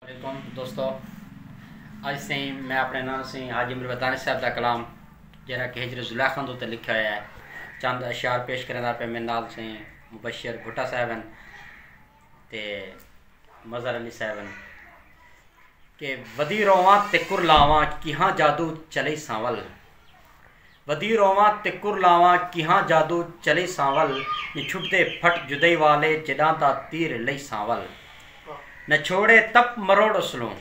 علیکم دوستو اج سیں میں اپنے نام سیں حاجی مروتانی صاحب دا کلام جہاں کہ ہجر زلیخا دو تے لکھا ہوا ہے چند اشعار پیش کرنے دا پہ میرے نال سیں مبشر بھٹا صاحب ہیں تے مظہر علی صاحب ہیں کہ ودی رواں تے کرلاواں کیہاں جادو چلے سانول ودی روواں تے کر لاواں کیہاں جادو چلئی سانول نی چھٹدے پھٹ جدئی والے جڈاں دا تیر لئی سانول نہ چھوڑے تپ مروڑ اسلوں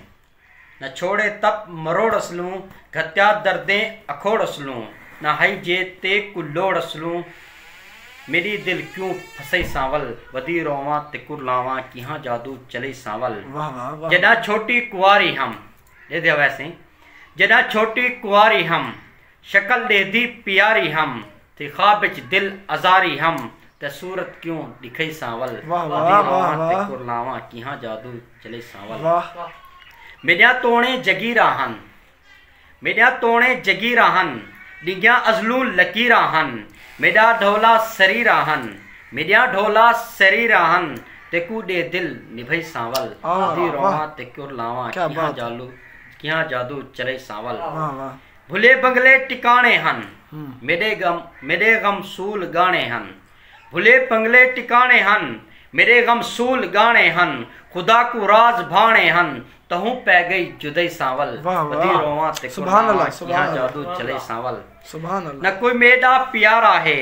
نہ چھوڑے تپ مروڑ اسلوں گھتیا دردیں اکھوڑ اسلوں نہ ہئی جے تے کو لوڑ اسلوں میڈی دل کیوں پھسئی سانول ودی روواں تے کر لاواں کیہاں جادو چلئی سانول جڈاں چھوٹی کواری ہم۔ ݙیہدے ہویسیں جݙاں چھوٹی کنواری ہم شکل ݙیہدی پیاری ہم تھی خواب اچ دل آزاری ہم تے صورت کیوں ݙکھئیساں ول آندی راواں تے کرلاواں کیہاں جادو چلیساں ول میݙیاں توݨیں جگیراں ہن میݙیاں توݨیں جگیراں ہن ݙنگیاں ازلوں لکیراں ہن میݙا ڈھولا سریراں ہن میڈیاں ڈھولا سری راہن تے کو ڈے دل نبھئی سانول ادھی روواں تے کر لاواں کیہاں جالو کیہاں جادو چلئی سانول بھلے بنگلے ٹکانے ہن میڈے غم میڈے غم سول گانے ہن بھلے بنگلے ٹکانے ہن میڈے غم سول گانے ہن خدا کو راز بھانے ہن تہوں پے گئی جدئی سانول ادھی روواں تے کر لاواں کیہاں جادو چلئی سانول نہ کوئی میڈا پیارا ہے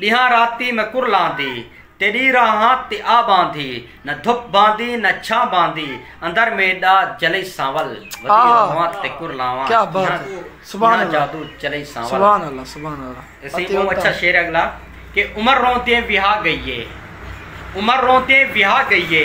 ݙینہاں راتی میں کرلاندی تیݙی راہاں تے آ ٻاندھی نہ دھپ بھاندی نہ چھاں بھاندی اندر میݙا جلئی سانول ودی رہواں تے کرلاواں ݙینہاں ݙینہاں جادو چلئی سانول۔ اتے ٻہوں اچھا شعر ہے اگلا کہ عمر رون دیں وہا گئی ہے۔ عمر روندیں وہا گئی اے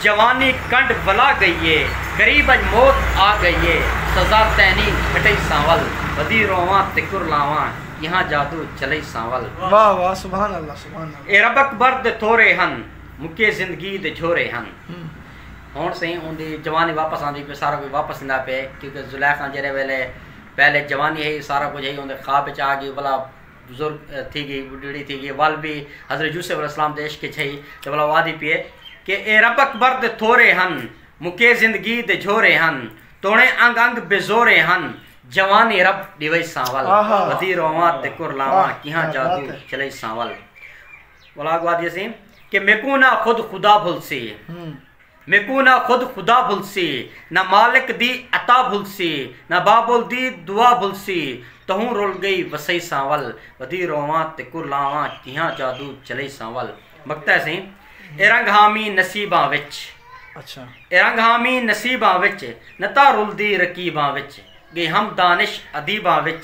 جوانی کنڈ ولا گئی اے غریب اچ موت آ گئی اے سزا تینی گھٹئی سانول ودی روواں تے کرلاواں کیہاں جادو چلئی سانول۔ واہ واہ سبحان اللہ سبحان اللہ۔ اے رب اکبر دے تھورے ہن مکے زندگی دے جھورے ہن۔ ہن سئیں اوندی جوانی واپس آندی پئی سارا کجھ واپس ایندا پئے کیونکہ زلیخا جیرھے ویلے پہلے جوانی ہئی سارا کجھ ہئی اوندے خواب اچ آ گئی ولا بزرگ تھی گئی بڈڑی تھی گئی ول بھی حضرت یوسف علیہ السلام دے عشق وچ ہئی تے بلا وادی پیے کہ اے رب اکبر دے تھورے ہن مکے زندگی دے جھورے ہن توڑے انگ انگ بزورے ہن جوانی رب ڈیوئی سانول ودی رواں تے کر لاواں کیہاں جادو چلئی سانول بلا وادی سی کہ میکو نہ خود خدا بھل سی میکوں نہ خود خدا بھلسی نہ مالک دی عطا بھلسی نہ بابل دی دعا بھلسی تہوں رل گئی وسئی ساں ول ودی روواں تیکوں لاواں کیہاں جادو چلئی ساں ول مکتا ہے سئیں اے رنگ ہامی نصیباں وچ اچھا اے رنگ ہامی نصیباں وچ نتا رلدی رقیباں وچ گئی ہم دانش ادیباں وچ